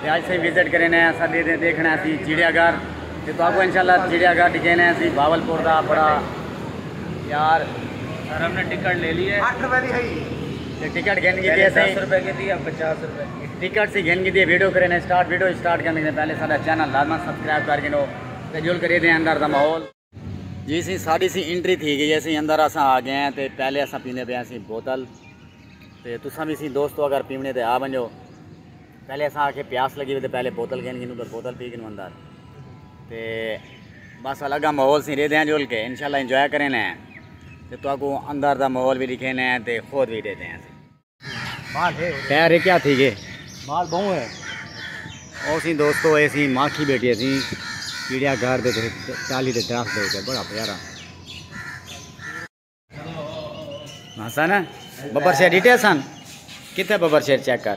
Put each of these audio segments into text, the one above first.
تے اج سائیں وزٹ کرینے ہیں اسا دے دے دیکھنا ہے سی چڑیا گھر تے تو اگو انشاءاللہ چڑیا گھر ڈکھینے ہیں سی بھاول پور دا بڑا یار سر ہم نے ٹکٹ لے لی ہے 8 روپے دی ہئی تے ٹکٹ گھن گئی ہے سائیں 10 روپے کی تھی اب 50 روپے کی ٹکٹ سی گھن گئی ہے ویڈیو کرینے سٹارٹ ویڈیو سٹارٹ کرنے سے پہلے ساڈا چینل لازما سبسکرائب کر گنو تے جول کرے دے اندر دا ماحول جی سی ساڑی سی انٹری تھی گئی اسی اندر اساں آ گئے ہیں تے پہلے اساں پیندے پہ اسی بوتل تے تساں بھی سی دوستو اگر پیونے تے آ بنجو پہلے اساں آکھے پیاس لگی ہوئے تے پہلے بوتل گھن گنو پھر بوتل پی گنو اندر تے بس الگا ماحول سی رہ دیں جول کے انشاءاللہ انجوائے کریں ہیں تے تو کو اندر دا ماحول بھی دکھیں ہیں تے خود بھی دے دیں ہیں مال ہے پیر کیا تھی گے مال بہو ہے او سی دوستو اے سی ماکھی بیٹھی سی کیڑیا گھر دے چالی دے درخت دے تے بڑا پیارا ہسن ببر شیر ڈیٹے سن کتے ببر شیر چیک کر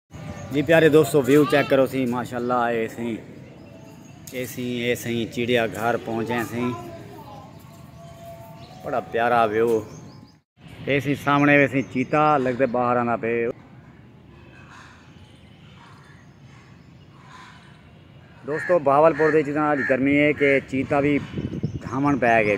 جی پیارے دوستو ویو چیک کرو سی ماشاءاللہ اے سیں اے سیں اے سیں چیڑیا گھر پہنچے سیں بڑا پیارا ویو اے سیں سامنے وے سیں چیتا لگتے باہر آنا پہ دوستو بہاول پور دے چیزاں آج گرمی ہے کہ چیتا بھی دھامن پہ گئے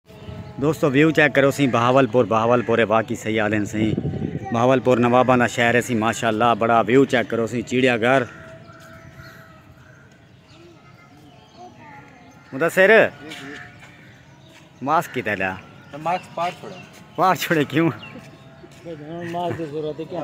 دوستو ویو چیک کرو سی بہاول پور بہاول پور واقعی صحیح آدھن سی بہاول پور نواباں دا شہر ہے سی ماشاء اللہ بڑا ویو چیک کرو سی چیڑیا گھر مدثر ماسک کیتا لیا ماسک پار چھوڑے پار چھوڑے کیوں ماسک دی ضرورت ہے کیا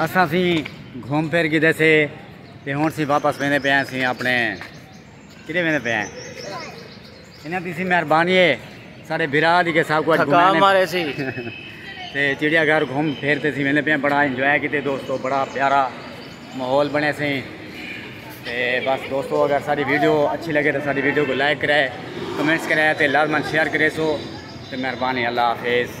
اساں اسی گھوم پھر گدے سے تے ہن اسی واپس ویندے پئے ہیں اسی اپنے کدے ویندے پئے ہیں انہاں دی سی مہربانی ہے سارے بھرا دی کہ سب کو تھکا مارے سی تے چڑیا گھر گھوم پھر تے اسی ویندے پئے ہیں بڑا انجوائے کیتے دوستو بڑا پیارا ماحول بنے سی تے بس دوستو اگر ساری ویڈیو اچھی لگے تو ساری ویڈیو کو لائک کرے کمنٹس کرے تے لازمن شیئر کرے سو تے مہربانی اللہ حافظ